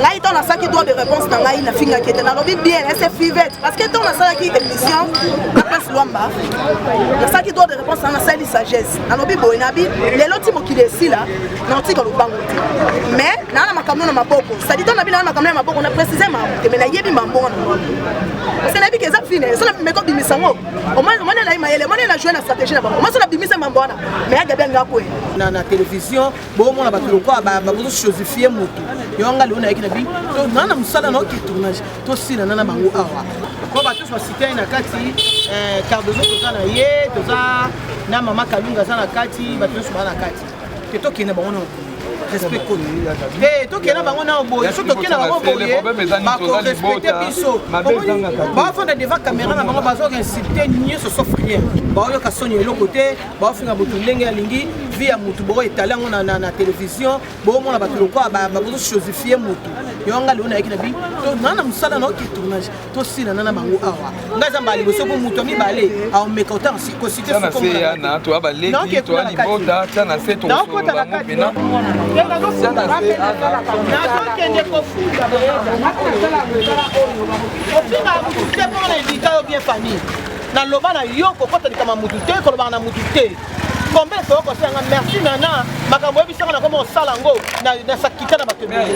ngai ntango nasalaki droit de réponse na ngai nafingaki ete nalobi bien ese fivete parce que ntango nasalaki émission na place lwamba nasalaki droit de réponse na nasali sagesse nalobi boye nabi lelo ti mokili esila naotika lobango te mais naa na makambo na maboko sadi ntango nabi naa na makambo na maboko na précise mambo te mais nayebi mambongo na maboko parce que nayebi ke eza fine so nameko bimisa yango omoni elai mayele omoni na joue na stratégie na bango omoni so nabimisa mambo wana mais agabi yango akwe na télévision bomona bato lokola babozo chosifie motu yango nga lelo nayaki na bi naa na mosala na oke tournage tosilana na bango awa po bato nyonso basitani na kati eh, cardozo toza na ye toza na mama kalunga aza na kati bato nyonso baa na kati te tokende bango na mokili respect koni eh, tokende na bango nao boye so tokende na bango boye bakorespecte biso bafanda devant caméra na bango bazoka insulte nyonso sauf rien baoyoka soni eloko te baofinga motu ndenge alingi vie ya motu boko etale yango na, na, na televizio boomona bato lokola bazososifie motu yo nga leo nayaki na bi naa na mosala na oki tournage tosilana na bango awa nga eza mbala liboso mpo moto ya mibale aomeka otanga kosite sukoana toa baleki toa libota tia na se tokosola bango mpena nazokende kofunda boyeza nakosala mosala oyo ofinga motu te mpo na edika yo bien famille Na loba na yo kokota likama mutu te kolobaka na mutu te. Combien de fois okosala nga merci nana makambo oyebi sanga na koma osala yango na sakita na bato ebele.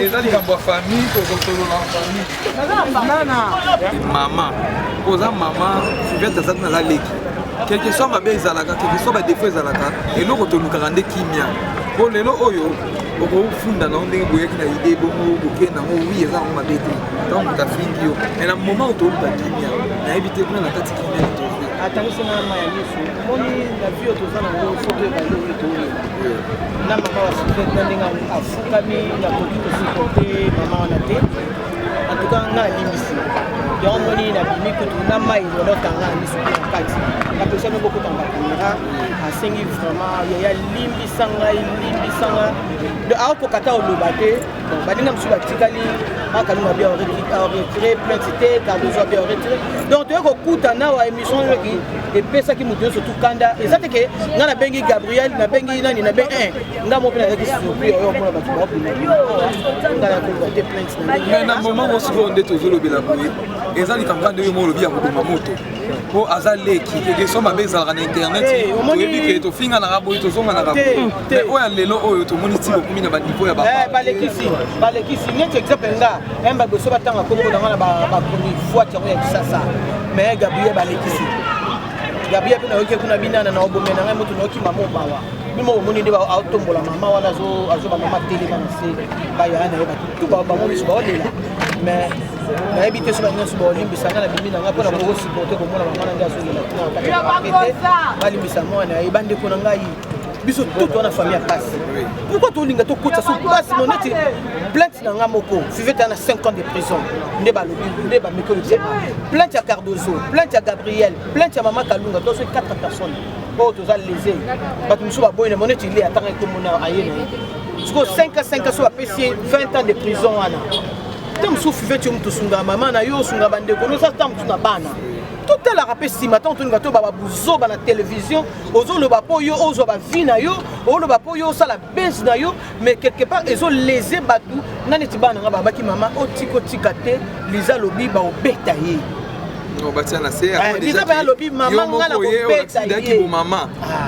Eza likambo ya famille kokosolola na famille. Mama oza mama fivete azaki naza leki quelque soit mabe ezalaka quelque soit badefo ezalaka eloko tolukaka nde kimia mpo lelo oyo okofunda nango ndenge boyaki na ide bongo bokende nango wi eza yango mabe te ntango moto afingi yo me na moma oyo tooluka kimia nayebi te kuna na kati kimia tozo atangisi na ma ya miso omoni na bio toza na ngo soki ebali oyo toyeba na mama wa sufete na ndenge afukami nakoki kosuporte mama wana te antuka nga alimbisi yango moni nabimi kutu na mai olotanga miso na kati napesami bokotanga bakamera asengi vraiment yaya limbisa ngai limbisa ngai aokoka ta oloba te baninga mosusu batikali makalunga bia retire plainte te cardozo abia retire donc toye kokuta nawa émission oyoki epesaki moto nyonso tukanda eza te ke ngai nabengi gabriel nabengi nani nabe eh, ngai mo mpe nazalaki surpris oyo omona bato baobima ngai nakoluka te plainte na moment mosikoyo nde tozolobela boye eza likambo nde oyo mo olobi ya koboma moto po aza leki ekeso mabe ezalaka na internet eh, toyebi ke tofinganaka boye tozonganaka te oyo ya lelo oyo tomoni ti bokomi na baniveau ya eh, balekisi balekisi neti exemple nga eh, baboso batanga kombo na nga na bakomi fwat yango ya kisasa mais gabriel balekisi gabriel mpe nayoki kuna binana na obome na ngai moto nayoki mama obawa bimo omoni nde aotombola mama wana azoba mama telema na se bayaya na ye batu tu bango miso baolela mais nayebi te soki banyonso baolimbisa nga na bimi na nga mpo na koko supporte komona mama na ngai azongela balimbisa mwana ye bandeko na ngai biso tutu wana famille ya pasi pourkoi tolinga tokotisa so pasi mo neti plainte na nga moko fivete na 5 ans de prison nde balobi nde bameki olobisa plainte ya cardozo plainte ya gabriel plainte ya mama kalunga to soki 4 personnes oyo toza lese bato mosusu baboyi na mo neti ile atangaki komona aye na ye sikoyo 5 a 5 a so bapesi ye 20 ans de prison wana ntango mosusu fivete yo moto osunga mama na yo osunga bandeko noza ntango mosusu na bana totalaka mpe nsima ntango tolinga toyeba babuzoba na televizio ozoloba mpo yo ozwa bavi na yo oloba mpo yo osala base na yo mais quelque part ezolese bato nga neti bana nga babaki mama otikotika te liza lobi baobeta ye biza mpe alobi mama nga na kobeta ye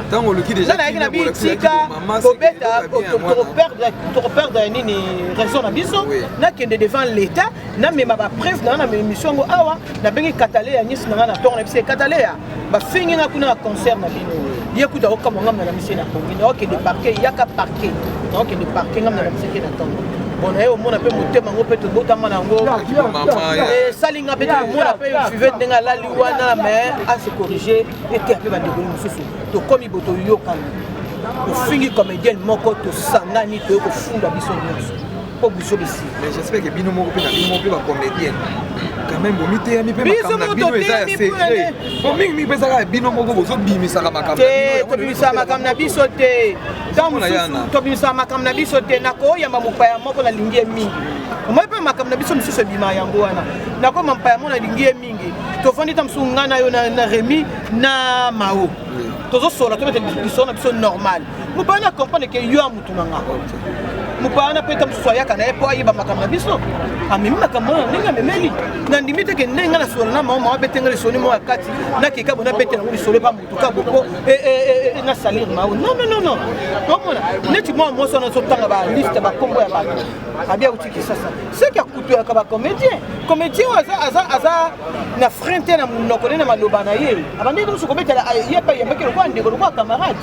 ntango oluki dejazalaki na bitika kobeta tokoperdre ya nini raison na biso nakende devant l'état namema bapreuve na nga na émission yango awa nabengi katale ya nyonso na nga na ntongo na biso ekatale ya bafingi nga kuna na concert na bino ye kuta okamwa ngai mnalamise na kongi naokende parke yaka parke naokende parke ngai mnalamiseke na ntongo bona ye omona mpe motema yango mpe tobotama na yango esali eh, nga mpe tomona mpe five ndenge alali wana me ase corrige eteya mpe bandekoli mosusu tokomi bo toyokani tofingi comédienne moko tosangani toye kofunda biso nyonso po buso bisi mais j'espère que bino moko mpe na bino moko mpe bacomédienne quand même bomiteyami mpe makambo na bino eza ya secret po mingi mingi mpe ezaka ya bino moko bozobimisaka makambo te tobimisaka makambo na biso te ntango mosusu tobimisaka makambo na biso te nakoyamba mopaya moko nalingi ye mingi omoi mpe makambo na biso mosusu ebima yango wana nakoma mpaya moko nalingi ye mingi tofandi ntango mosusu ngai na yo na remi na mao tozosola tobeta lisolo na biso normal mobali na comprendre ke yo ya motu na nga mopaya na peta mosusu ayaka na ye mpo ayeba makambo na biso amemi makambo wana ndenge amemeli nandimi te ke ndenge nga nasolo na mama abete nga lisoni moko ya kati nakeka bo nabete yango lisolo epa motu ka boko e, e, e, na salir mao non non non non omona neti mwana mwasi wana azotanga baliste bakombo ya bato abi auti kisasa seki akutuyaka bacomédien comédien oyo aza na frein te na monoko nde na maloba na ye abandeki mosu kobetela ye epai yambaki lokola ndeko lokola camarade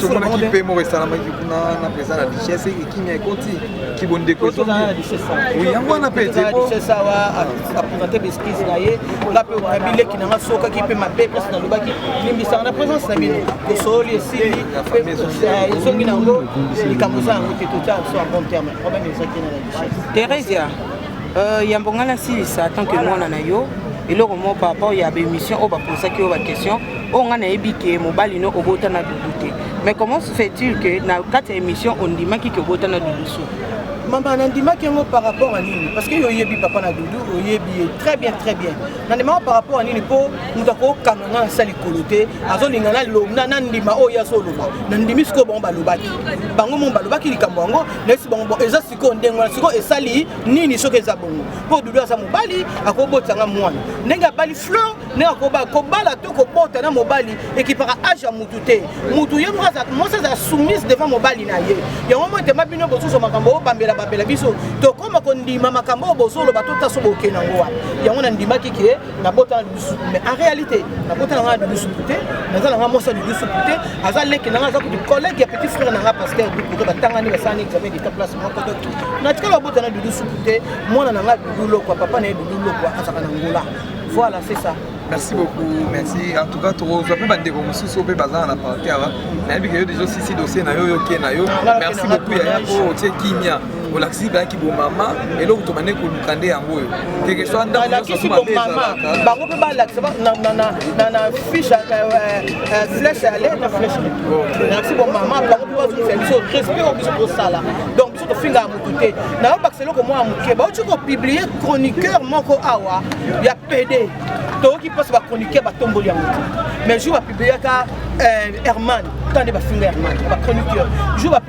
tomonaki mpe moko esalamaki kuna na président na duchesse ekimi ekoti kibondeko yango wana mpe teawa apresente baeskise na ye nga mpe wana bileki na nga sokaki mpe mabe mpasi nalobaki limbisaka na présence na bino tosololi esili ezongi na yango likambo eza yango te totya biso en bon terme problème ezaki na la duchesse theresia Euh, yambo ngai nasilisa tant que mwana na yo eloko moko par rapport ya baémission oyo baposaki yo baquestion oyo ngai nayebi ke mobali no obota na dudu te mais comment se fait-il que na kati ya émission ondimaki ke obota na dudu su mama nandimaki yango par rapport ya nini parce que yo oyebi papa na dudu oyebi ye très bien très bien nandimaka par rapport ya nini mpo moto akokanga ngai nasa likolo te azolinga nalobna nandima oyo ye azoloba nandimi sikoyo bango balobaki bango mo balobaki likambo yango nayesi bango eza sikoyo ndenge wana sikoyo esali nini soki eza bongo mpo dudu aza mobali akobotisa nga mwana ndenge abali fleur ndenge akoba kobala to kobota na mobali ekipaka age ya mutu te mutu ye moko mwasi azala soumise devant mobali na ye yango mo etema bino bosusu makambo oyo bambela bambela biso tokoma kondima makambo oyo bozoloba totaso boke nango wana yango nandimaki ke nabota na dudu supu mais en réalité nabota na nga na dudu supu te naza na nga mwasi ya dudu supu te aza leki na nga aza kutu collègue ya petit frère na nga pasteur dukuto batangani basalani examen d'état place moko donc natikala babota na dudu supu te mwana na nga dudu lokwa papa na ye dudu lokwa azaka na ngola voilà c'est ça merci beaucoup merci en tout cas tokozwa mpe bandeko mosusu mpe bazala na parti awa nayebi ke yo deja osisi dossier na yo yoke na yo merci beaucoup yaya mpo otie kimia bolakisi bayaki bomama eloko tobande koluka nde yango oyo tekeswa ndalakisi bomama bango mpe balakisa na fiche flèche ya lene na flèche nalakisi bomama bango mpe bazongisa biso respect oyo biso tosala donc biso tofingaka motu te nayobakisa eloko mwa ya moke bauti kopiblie chroniqueur moko awa ya pede toyoki mposo bachroniqueur batomboli yango te mais jour bapibliaka herman ntango nde bafinga herman bachroniqueur jour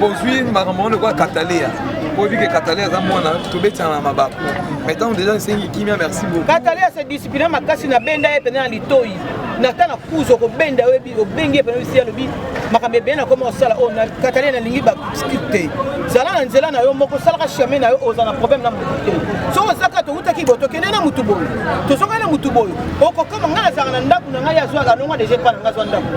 bozwi makambo yango lokola kataleya oyebi ke kataleya aza mwana tobetana na mabaku mai ntango deja esengi kimia merci beaucoup kataleya se discipline makasi na benda ye mpena na litoi nata na kuzu okobenda oyebi obengi ye mpena bisi alobi makambo ebele na koma osala oyo oh, kataleya nalingi baskip te zala na nzela na yo moko osalaka chemin na yo oza na problème na motu te soki ozaka towutaki boye tokende na motu boye tozongaki na motu boye okokoma ngai nazalaka na ndako na ngai azwaka alonga deja epa na ngai azwa ndako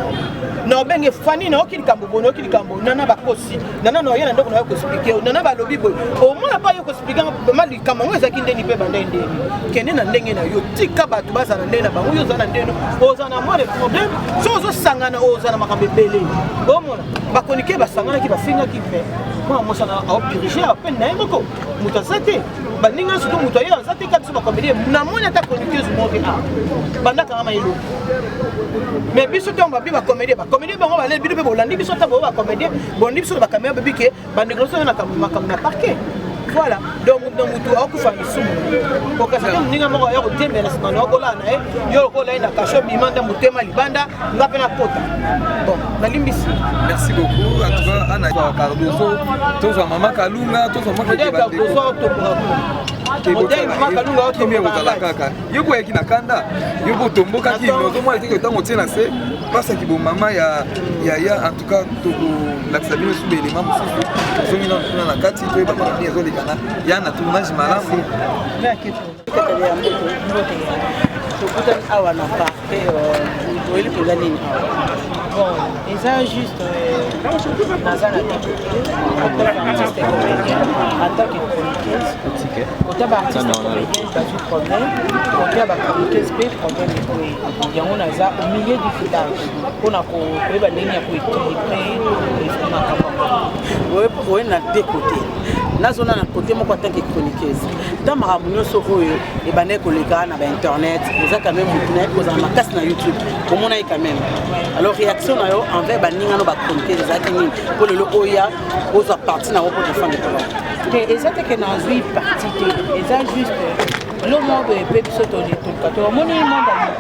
na obenge fani nayoki likambo boye nayoki likambo nana bakosi nana na oye na ndako na yo koexplike yo nana balobi boye omona mpa yo koexplike ma likambo yango ezalaki ndeni mpe bandai ndeni kende na ndenge na yo tika bato bazala na ndenge na bango yo oza na ndenge oza na mwa de problème so ozosangana oza na makambo ebele omona bakonike basanganaki bafingaki mpe mwana mosana aopirige apene na ye moko moto aza te baninga nsutu moto aye aza te kati so bakomeli namoni ata chroniqueuse moko te a banda kanga mayelo mais biso ntango babi bakomedie bakomedie bango baleli bino mpe bolandi biso ntango oyo bakomedie bolandi biso na bakamera bebi ke bandeko biso na makambo na parquet voilà donc na motu akokufa lisumu okasa te moninga moko aya kotemela nsima na okolala na ye yo lokola ye na kasho bima nda motema libanda nga mpe nakota bon nalimbisi merci beaucoup en tout cas ana cardoso tozwa mama kalunga tozwa mwakeeotoborakakimia kozala kaka yo boyaki na kanda yo botombokaki ozomona teke ntango otie na se basaki bomama ya yaya en tout cas tokolakisa bino suba elema mosusu tozongi nano kuna na kati toyeba makambo ezolekana ya na tournage malamu tokutani awa na parke euh, oyeli mpenza nini bon eza juste euh, naza na artiste comédien en tant que chroniqueuse kota baartiste comédienne bazwi problème kota bachroniqueuse mpe problème ekoye yango naza au milieu du village mpona koyeba ndenge ya koéquilibre makambo oye na deux côté nazona na côté moko en tant que chroniqueuse ntango makambo nyonso oyo ebandaki koleka na bainternet eza quand même motu nayebi kozala makasi na youtube komona ye quand même alors réaction na yo envers baninga no bachroniquer ezalaki nini mpo lelo oya ozwa parti na yango mpo tofande kolo te eza teke nazwi parti te eza juste lomobe mpe biso tolitolka tomoni monde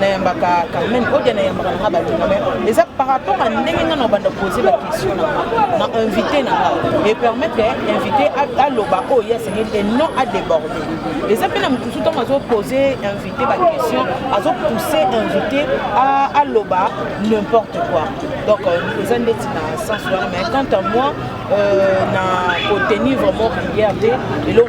nayambaka carmen odia nayambaka nanga balinga me eza par rapport a ndenge nga na obanda pose baquestion nanga na invité nanga epermettre invité aloba oyo ye asengeli te non adeborde eza mpe na mosusu ntango azopose invité baquestion azopousse invité aloba n'importe quoi donc euh, eza ndeti na sens wana mais quant à moi euh, na kotenir vraiment prière te eloo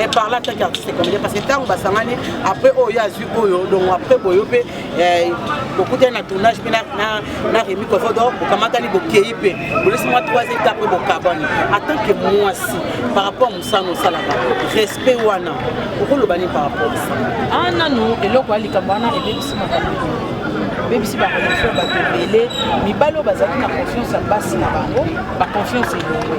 et par là tant qu'artiste et comédien parce que ntango basangani après oyo azwi oyo donc après boyo mpe bokutani na tournage mpe na remi kofodo bokamatani bokei mpe bolesi mwa 3 eta après bokabani en tant que mwasi par rapport mosala osalaka respect wana okoloba nini par rapport a nanu eloko ya likambo wana ebebisi makambo babebisi bakonfio bato ebele mibali oyo bazalaki na confiance ya basi na bango baconfiance elongwe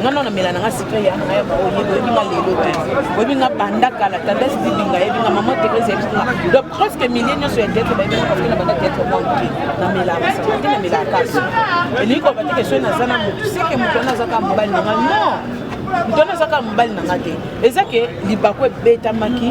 nga nao namela nanga secret ya nanga ya baoyo yeba oyebi nga lelo te oyebi nga banda kala tendance dibinga yebi nga mama tegrese yebi nga donc presque milieu nyonso ya teatre bayebi nga parce que na banda teatre mwa moke namelaka secret te namelaka kasi elingi koloba te kesoi naza na motu seke motu wana azaka mobali nanga non moto wana azaka mobali nanga te eza ke libaku ebetamaki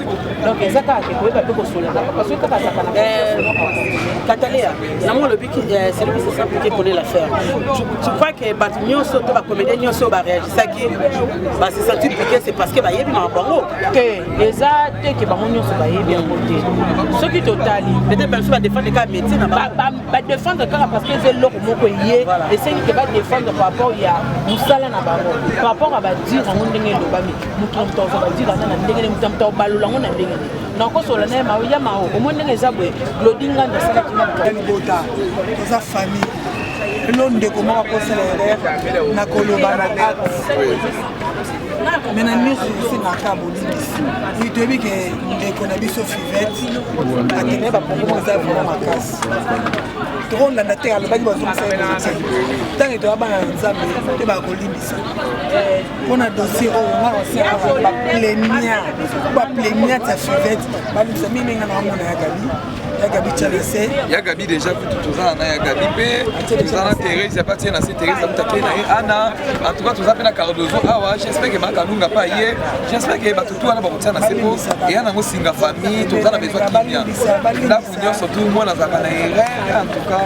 donc eza kaka ke koyeba mpe kosolaka parce que kaka azaka na kataleya nango olobi celui qui se sent piqué connaît l'affaire tu crois que bato nyonso to bacomédien nyonso baréagisaki base senti piqué c'est parce que bayebi makambo yango te eza te ke bango nyonso bayebi yango te soki totali peut-être biso badefendre kaka métier na badefendre kaka parce que eza eloko moko eye esengi ke badefendre par rapport ya mosala na bango par rapport ya badire yango ndenge elobami moto na moto akozwa badila na ndenge nde moto na moto akobalola yango na ndenge nde nakosola naye mao ya mao omoni ndenge eza boye glodi ngando asalaki nabota toza famille elo ndeko moko akosala erreur na koloba na me na nyonso esengaka bolimbisi oyo toyebi ke ndeko na biso fivete akende bapongomo eza vraimen makasi tokolanda te alobaki bazongisa ye ntango etoya bana na nzambe te bakolimbisa mpo na dossier oyo nga oseka baplenia bapleniate ya fivete balukisa mingi ndenge na bamona ya gabi ya gabi chalese ya gabi déjà kutu tozala na ya gabi mpe toza na therese ya batie na se therese amuta mpe na ye ana en tout cas toza mpe na cardozo awa j'espère que makanunga mpe aye j'espère que bato tu wana bakotia na se mpo eya nango singa famille toza na besoin kimia ndako nyonso tu mwana azalaka na erreur en tout cas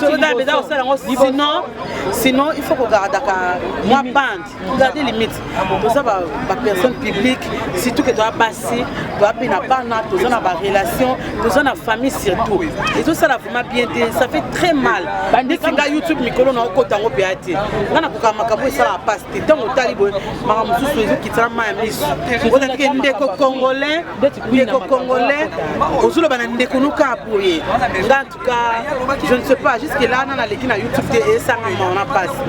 soda mpenza kosala yango sinon sinon il faut kogardaka mwa bande garde limite toza bapersonne publique surtout ke toza basi toza mpe na bana toza na barelation toza na famille surtout ezosala vraiment bien te ça fait très mal ndeti nga youtube mikolo na okota yango mpe ya te nga nakokaa makambo esalaka mpasi te ntango otali boye maka mosusu ezokitana mai ya miso otatike ndeko congolais ndeko congolais ozoloba na ndeko nokaa boye nga je ne sais pas jusque là nana aleki na youtube te esanga maona mpasi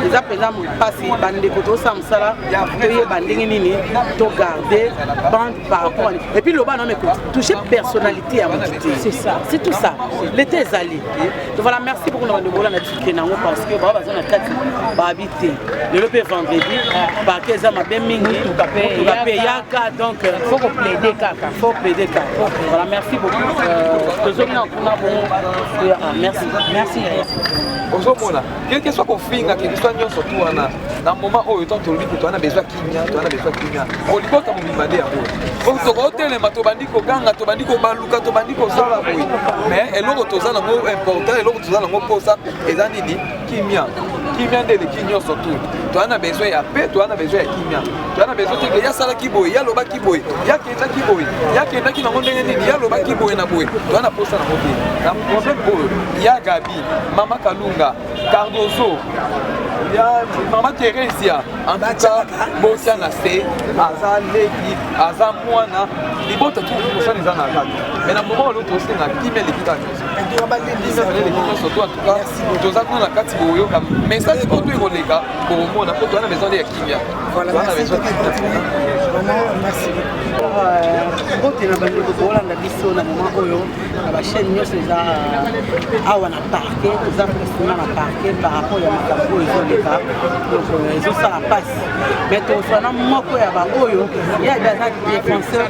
eza mpenza mpasi bandeko tosala mosala toyeba ndenge nini togarde bande par rapport et puis loba nome touche personnalité ya motu te c'est ça c'est tout ça l'état ezali donc voilà merci beaucoup na bandeko ola na tike nango parce que bao baza na kati babi te lelo mpe vendredi parke eza mabe mingi motuka mpe eyaka donc euh, faut koplaide kaka faut plaide kaka voilà merci beaucoup euh, tozongi na kuna bongo ah, merci merci ozomona quelque soit kofinga quelque soit nyonso tu wana na moment oyo ntango tolobi kutu wana bezwa kimia to wana bezwa kimia olibota mobimba nde yango po tokotelema tobandi koganga tobandi kobaluka tobandi kosala boye mais eloko toza nango important eloko toza nango mposa eza nini kimia kimia nde eleki nyonso tu toza na besoin ya pe toza na besoin ya kimia toza na besoin teke yasalaki boye yalobaki boye yakendaki boye yakendaki nango ndenge nini yalobaki boye na boye toza na posa nango te na problème oyo ya gabi mama kalunga cardozo ya mama teresia antuka botya na se aza leki aza mwana libota tu kosana eza na kati me na moma oloki osenga kimia eleki kati etonga balendisa nyonso to atuka toza kuna na kati boyoka message oyo toyi koleka bokomona mpo toza na maison nde ya kimia toza na maison mbote na bandeko tokolanda biso na moma oyo na bachaine nyonso eza euh, awa na parke toza presima na parke par rapport ya makambo oyo ezoleka donc euh, ezosala mpasi mais tofana moko ya baoyo ye abe aza défenseur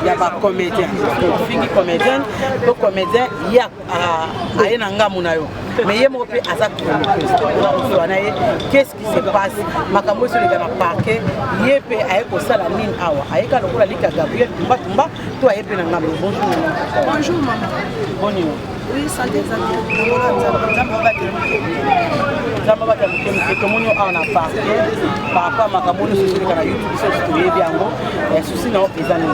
ya bacomédien ofingi comédienne po comédien ye aye na ngambo na yo mais ye moko mpe aza chroniqueusezwa na ye qu'est-ce qui se passe makambo ezo leka na parquet ye mpe aye kosala nini awa ayeka lokola lika gabriel tumbatumba to aye mpe na ngambo bonjour bonjour mama bonjour oui santé eza nzambe abata moke moke tomoni awa na parke parapa makambo nyonso ezoleka na youtube biso toyebi yango susi na yo eza nini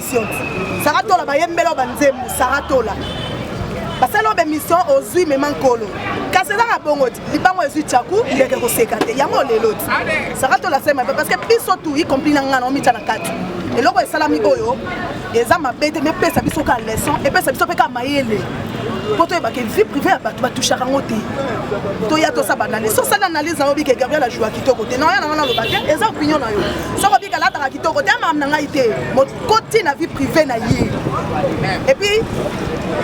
sara tola bayembela yo banzembo sara tola basali yo bemission ozwi mema nkolo kasi ezaka bongo ti libango ezwi chaku ndeke koseka te yango lelo ti sara tola sema parce que biso tu y compris na ngai na omitya na kati eloko esalami oyo eza mabe te mepesa biso ka leçon epesa biso mpe ka mayele mpo toyeba ke vie privé ya bato batouchaka yango te toya tosaba analyse osala analyse na yo bike gabriel ajua kitoko te na oya na wana aloba te eza opinion na yo soko bika lataka kitoko te amam na ngai te mokoti na vie privé na ye epuis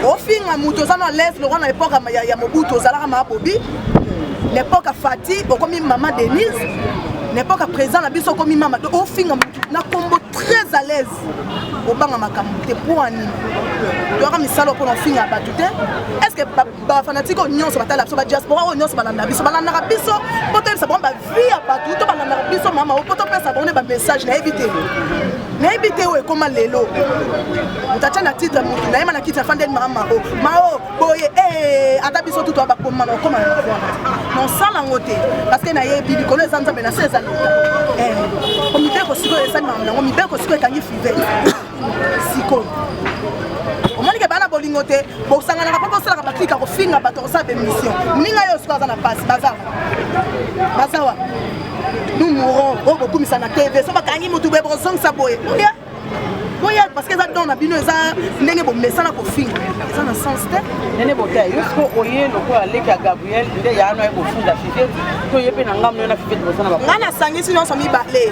ofinga moto oza na lese lokola na epoke ya mobutu ozalaka maa bobi na epoke ya fati okomi mama denise na epoke ya président na biso okomi mama to ofinga motu na kombo très à l'aise obanga makambo te mpo anini toyaka misala mpona ofinga bato te est ce que ba fanatike oyo nyonso batala biso badiaspora oyo nyonso balanda biso balandaka biso mpo toyebisa bango bavie ya bato to balandaka biso mama o mpo topesa bango nde bamessage nayebi te nayebi te oyo ekoma lelo moto atya na titre motu nayema na kiti ya fandeni mama o mao boye eh, ata biso tutu abakoma na okoma na nosala yango te parceke nayebi likolo eza nzambe na se eza leta eh, komibeko sikoyo esalimaka nango mibeko sikoyo ekangi five sikoyo omonike bana bolingo te bosanganaka mpo bosalaka baklika kofinga bato kosala bemission moninga yo sikoyo aza na mpasi baza baza wa nous mourons oyo oh, bokumisa na tv so bakangi motu boye bokozongisa boye oya boya parce que eza don na bino eza ndenge bomesana kofinga eza na sens te nene botea yo siko oye lokola leki ya gabriel nde yaano aye kofunda fifete to ye mpe na ngamno na fifete bosana ngai nasangisi nyonso mibale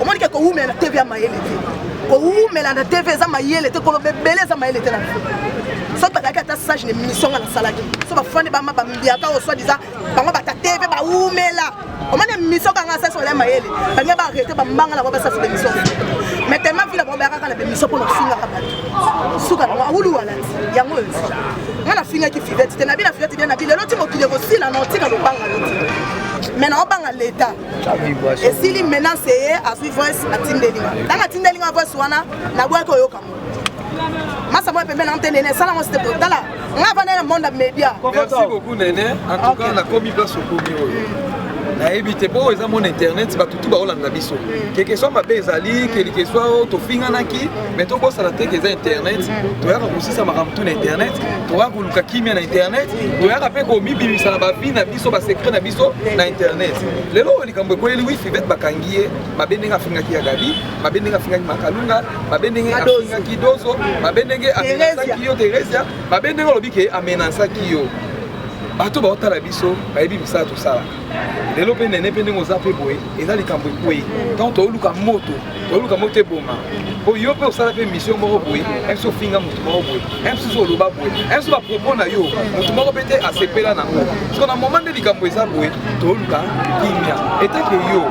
omoni ke kowumela na tv ya mayele te kowumela na tv eza mayele te koloba ebele eza mayele te na so tozalaki ata sage na émission nga nasalaki so bafandi bama bambiaka oyo soit disant bango bata tv bawumela omoni émission kanga sasi olai mayele balingi baarrete bambanga nango basasi bémission mais tellement vila bango bayakaka na bémission mpo nafingaka bato suka nango awuluwalati yango oyo nga nafingaki fivete te nabi na fivete bia nabi lelo ti mokili ekosila na otika lobanga loti mais naobanga leta esili menance eye azwi voice atindeli nga ntango atindeli nga voice wana naboyaki oyoka mo masa moya pembeni na mpe nene esala ngo site kotala nga avanda na monde ya media merci beaucoup nene en tout cas nakomi place okomi oyo mm. nayebi te mpo eza mona internet bato tu baolanda biso mm. kekesoi mabe ezali kelikesoi oyo tofinganaki mm. mai tobosana te ke eza internet toyaka kosisa makambo tu na internet toyaka koluka kimia na internet toyaka mpe komibimisa na babi na biso ba secret na biso na internet lelo oyo likambo ekweli wi fivete bakangi ye mabe ndenge afingaki ya gabi mabe ndenge afingaki makalunga mabe ndenge afingaki dozo mabe ndenge amenasaki yo teresia mabe ndenge olobi ke amenasaki yo bato baotala biso bayebi misala tosalaka lelo mpe nene mpe ndenge oza mpe boye eza likambo ekwei donc tooluka moto oluka moto eboma po yo mpe osala mpe mission moko boye mso ofinga motu moko boye msusu oloba boye mso bapropos na yo motu moko mpe te asepela nango siko na moma nde likambo eza boye toluka kimia etake yo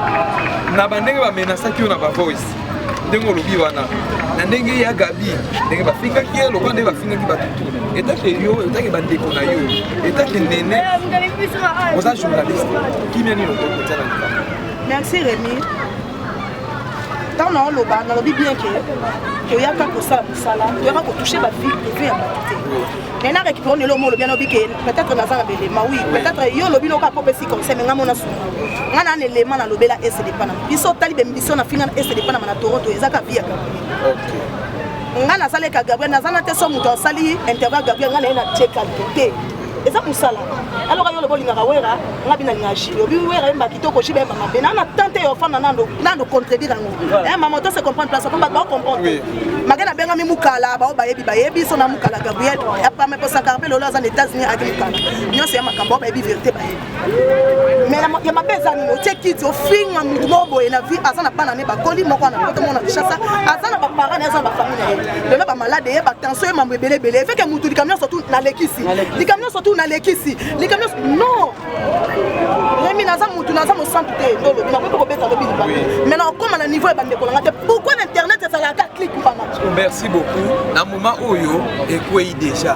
na bandenge bamenasaki yo na bavoice ndenge olobi wana na ndenge ya gabi ndenge bafingaki ye lokola nde bafingaki bato tuna etake yo etake bandeko na yo etake nene oza journaliste kimia nini okoki kotya na likambo merci remi ntango na oloba nalobi bien ke toyaka kosala mosala toyaka kotouche bavie prive ya bato te mais na récupérant lelo mo olobi alobi ke peut-être naza na belema oui peut-être yo olobi noka po pesi conseil mais nga mona sunga nga na elema na lobela ese de panama biso tali be biso na finga ese de panama na Toronto ezaka via nga nasaleka Gabriel naza na te so moto asali interview Gabriel nga na ye na check te eza mosala aloka yo lobo olingaka wera nga bina linga jili obi wera yemba kitoko jili yemba mabe nana tante yo ofanda nando nando contredire yango eh maman to se comprendre place komba ba comprendre mage na bengami mukala bao bayebi bayebi so na mukala gabriel apame posaka mpe lolo aza na états-unis aki mukala nyonso ya makambo bayebi verité bayebi ya mabe eza nini otie kiti ofinga motu moko boye na vie aza na bana ne bakoli moko ana poto moko na kinshasa aza na baparent aza na bafami na ye lelo bamalade ye batension ye mambo ebele ebele efeke motu likambo nyonso tu nalekisi likambo nyonso tu nalekisi likambo nyonso non remi naza motu naza mosantu te ndolo nakoki mpe kobeta lobi liba mai na okóma na niveau ya bandeko na nga te pourkui na internet ezalaka clike mpana merci beaucoup na moment oyo ekwei déjà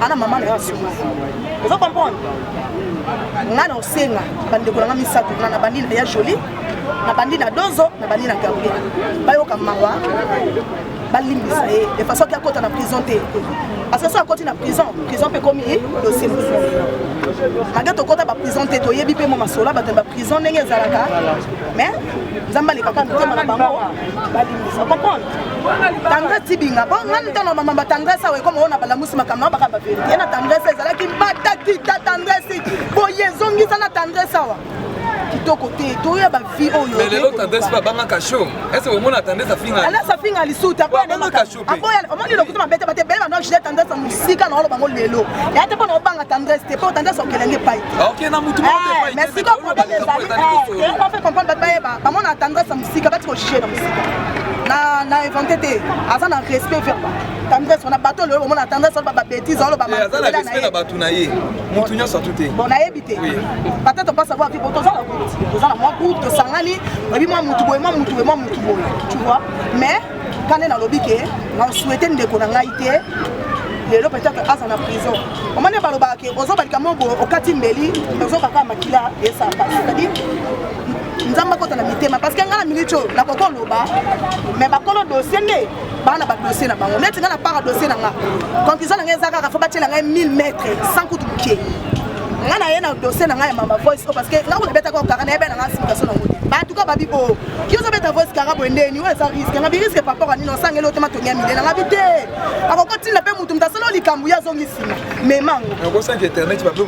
ana mama na yo asumuki ozo comprendre nga na osenga bandeko na nga misato na nabandi na ya joli nabandi na dozo nabandi na gabriel bayoka mawa balimbisa ye de façon ke akota na prison te parce que so akoti na prison prison mpe ekomi dosie mosusu malgre tokota baprison te toyebi mpe mwa masolo ya bato ya baprison ndenge ezalaka mais nzambe alekaka mitema na bango balimbisa comprendre tendresse tibinga mpo nga ntango mama batendresse awa ekoma oyo na balamusi makambo na bakamba verite ye na tendresse ezalaki batatita tendresse boye ezongisa na tendresse awa kitoko te toya bavie oyo mais lelo tendresse mpe abangaka show ese omona tendresse afinga alasa afinga lisuti aboyabangaka show mpe omoni lokuta mabete bate bele bando jile tendresse mosika na olo bango lelo ya te mpo na obanga tendresse te mpo tendresse okelenge epai te ok na motu moko epai te mais sikoyo problème ezali on fait comprendre bato bayeba bamona tendresse sika bati kojuge na mosika na na invente te aza na respect verba tendresse wana bato oyo omona tendresse wana babetise oloba aza na respect na bato na ye motu nyonso atu te bon nayebi te peut-être pas savoir que toza na groupe toza na mwa groupe tosangani oyebi mwa motu boye mwa motu boye mwa motu boye tu vois mais kane nalobi ke na souhaite ndeko na ngai te lelo peut-être aza na prison omoni balobaka ke ozobalika moko okati mbeli ozokaka makila esaka c'est-à-dire nzambe akota na mitema parce que ngai na minute oyo nakoki oloba mais bakolo dossier nde baa na badossier na bango neti ngai na para dossier na nga conclusion na ngai eza kaka fo batiela ngai 1000 mètre sans kutu moke ngai naye na dossier na ngai ya mama voice oyo parce que ngai kuna betaka okaka nayebi na ngai simikasio na ngoni bato ka babi o yo ozobeta voice kaka boye ndeni oyo eza riske ngabi riske papora nini osangeli oyo te matongi ya minene ngabi te akokotinda mpe motu moto asala likambo ye azongi nsima memango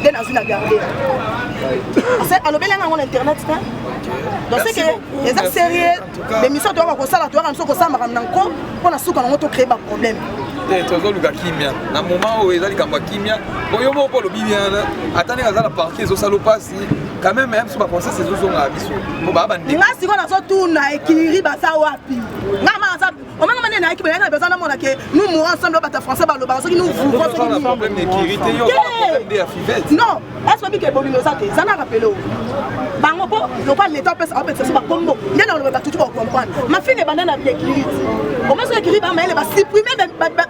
nde nazwi na garde alobeli yango na internet te donc seke eza sérieux bemission toyaka kosala toyaka biso kosala makambo na nko mpo na suka nango tocree baproblème te tozoluka kimia na moment oyo eza likambo ya kimia po yo moko olobi bien ata ndenge aza na parti ezosala opasi quand même même so baconses ezozongaka biso po baa bandinga sikoyo nazotuna ekiri baza wapi nga ma aza omanga mane nayaki boyaka na besoin namona ke nous mourons ensemble oyo bato ya français balobaka soki nous vouvrons soki non est-ce que bike bolingo eza te eza na rappele o bango mpo lokola leta opesa opesa so bakombo nde na oloba batutu bakokomprendre mafinga ebanda na biekiriti omoi soki ekiri bamayele basiprime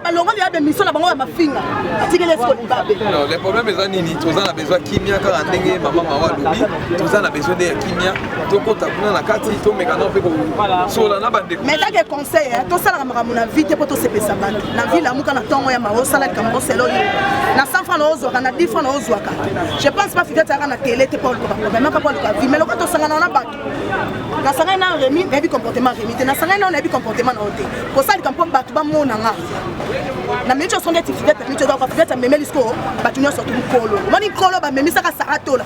balongoli ya bemission na bango ya mafinga atikeli esiko libabe le problème eza nini toza na besoin kimia kaka ndenge mama mawa alobi toza na besoin nde ya kimia tokota kuna na kati tomeka nao mpe kosola na bandeko mais kaka conseil tosalaka makambo na vie te mpo tosepesa bato na vie lamuka na ntongo ya mawa osala likambo osela oyo na 100 franc naozwaka na 10 franc naozwaka je pense pas fiti atiyaka na tele te mpo oluka problème aka mpo oluka vie mais lokola tosangana na bato nasangani nao remi nayebi comportement remi te nasangani nao nayebi comportement nao te kosalika mpo bato bamona nga na minute oso ndeti fidete minute ezaka fidete amemeli sikoyo bato nyonso tu mokolo omoni nkolo bamemisaka saratola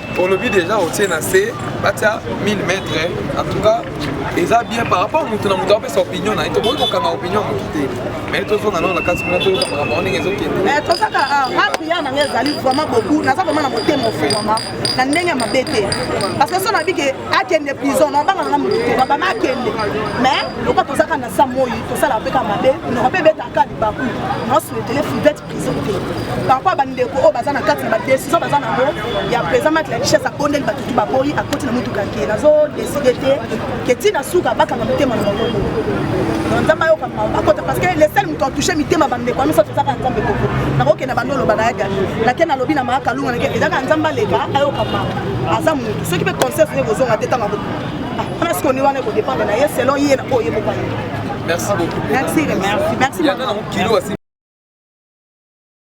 olobi deja otie na se batia 1000 mètre en tout cas eza bien par rapport motu na motu apesa opinion na ye tokoki kokanga opinion motu te mais tozonga nao na kati kuna toyoka makambo yango ndenge ezokende tozaka nga priere na ngai ezali vraiment boku naza vraiment na motema ofumama na ndenge ya mabe te parce que so nabi ke akende prison nabanga nanga motu te babama akende mais lokola tozaka na sa moi tosalaka mpe ka mabe noko mpe ebetaka libaku naosuetele fivete par rapport ya bandeko oyo baza na kati na badecision baza nango ya président mat la richesse akondeli bato tu baboyi akoti na motuka ke nazo décide te ke ntina suka bakanga motema na bango nzambe ayoka mawa akota parce que le seul moto atouche mitema bandeko ya misato ezaka nzambe koko nakokende bando oloba naya gani nake nalobi na maa kalunga nake ezaka nzambe aleka ayoka mawa aza motu soki mpe conscience nde kozonga te ntango Wana siko ni wana eko dépendre na ye selon ye na oyo ye moko alingi. Merci beaucoup. Merci, merci. Merci. Merci.